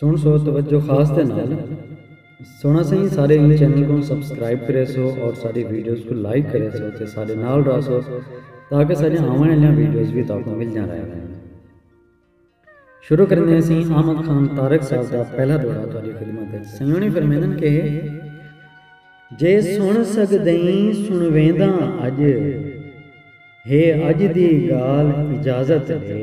سنڑ سو توجہ خاص دے نال سنڑا سائیں سارے ایں چینل کوں سبسکرائب کرے سو اور ساڈی ویڈیوز کوں لائک کرے سو تے ساڈے نال رہ سو تاکہ ساڈیاں آون آلیاں ویڈیوز وی تاکوں ملدیاں رہ ونجن شروع کریندے ہیں سائیں احمد خان طارق صاحب دا پہلا دورہ تہاڈی خدمت وچ سائیں ہونے فرمیندن کہ جے سنڑ سگدئیں سنڑوینداں اج ہے اج دی گالھ اجازت ڈے۔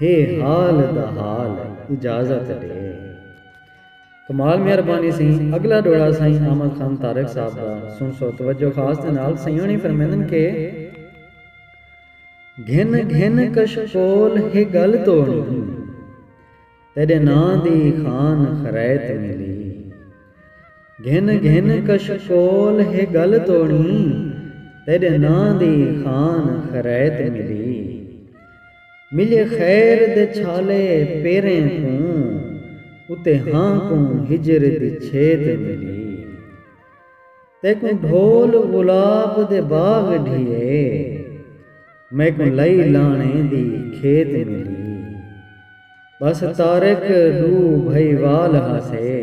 ہے حال دا حال اجازت ڈے۔ کمال مہربانی سئیں اگلا ڈوہڑا سائیں احمد خان طارق صاحب دا سنسو توجہ خاص دے نال سئیں ہوݨی فرمیندن کہ گھن گھن کشکول ہے گل توڑی تیڈے ناں دی خان خریت ملی گھن گھن کشکول ہے گل توڑی تیڈے ناں دی خان خریت ملی ملے خیر دے چھالے پیریں کوں اتے ہاں کوں ہجر دی چھیت ملی تیکوں ڈھول غلاب دے باغ ڈھیے میکوں لئی لاݨے دی کھیت ملی بس طارق ݙو بھئی وال ہاسے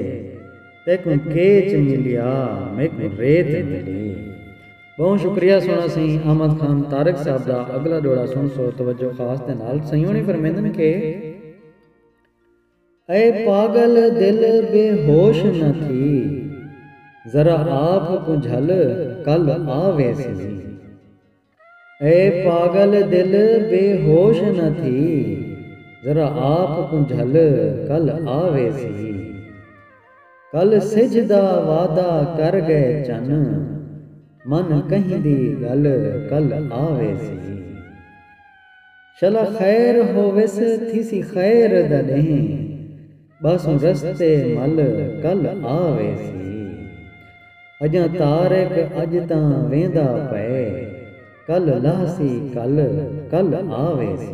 تیکوں کیچ ملیا میکوں ریت ملی۔ ٻہوں شکریہ سوہݨا سئیں احمد خان طارق صاحب دا اڳلا ݙوہڑا سݨسو توجہ خاص دے نال سئیں ہوݨی فرمیندن کہ اے پاڳل دل بے ہوش نہ تھی ذرا آپ کوں جھل کل آ ویسی اے پاڳل دل بے ہوش نہ تھی ذرا آپ کوں جھل کل آ ویسی۔ کل سجھ دا وعدہ کر گئے چن من کہیں دی گل کل آ ویسی شلا خیر ہوویس تھیسی خیر دا ڈینہہ باسوں رستے مل کل آ ویسی اجاں طارق اج تاں ویندا پئے کل لہسی کل کل آ ویسی۔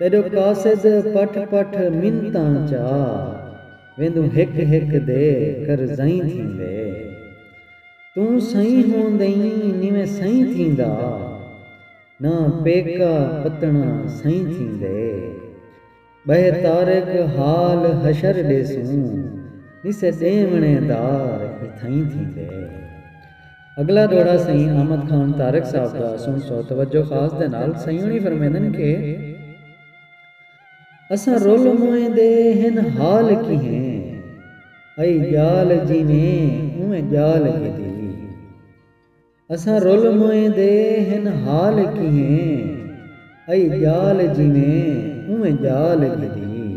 تیݙو قاصد پٹھ پٹھ منتاں چا ویندوں ہک ہک دے قرضئیں تھیندے توں سئیں ہوندئیں نیویں سئیں تھیندا نہ پیکا پتݨا سئیں تھیندے ٻہہ طارق حال حشر ݙیسوں نسے ݙیوݨے دار اتھئیں تھیندے اگلا ڈوہڑا سئیں احمد خان طارق صاحب دا سنسو توجہ خاص دے نال سئیں ہنی فرمیندن کہ اساں رول موئیں دے ہن حال کیہیں ائی جال جیویں اونویں جال گھدی اساں رول موئیں دے ہن حال کیہیں ائی جال جیویں اونویں جال گھدی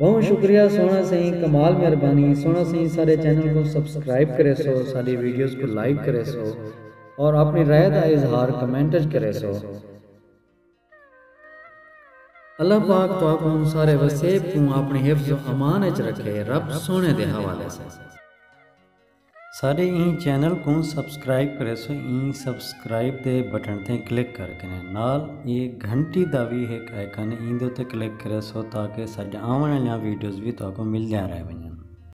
ٻہوں شکریہ سوہݨا سئیں کمال مہربانی سوہݨا سئیں ساݙے چینل کوں سبسکرائب کریسو ساݙی ویڈیوز کوں لائیک کریسو اور آپݨی رائے دا اظہار کمنٹ اچ کریسو اللہ پاک تہاکوں سارے وسیب کوں آپݨی حفظ و امان اچ رکھے رب سوہݨے دے حوالے سئیں۔ ساڈے ایں چینل کوں سبسکرائب کریسو ایں سبسکرائب دے بٹن تے کلک کر کے نال اے گھنٹی دا وی ہک آئیکن ایں دے اتے کلک کریسو تاکہ ساڈیاں آوݨ آلیاں ویڈیوز وی تہاکوں ملدیاں رہ ونجن۔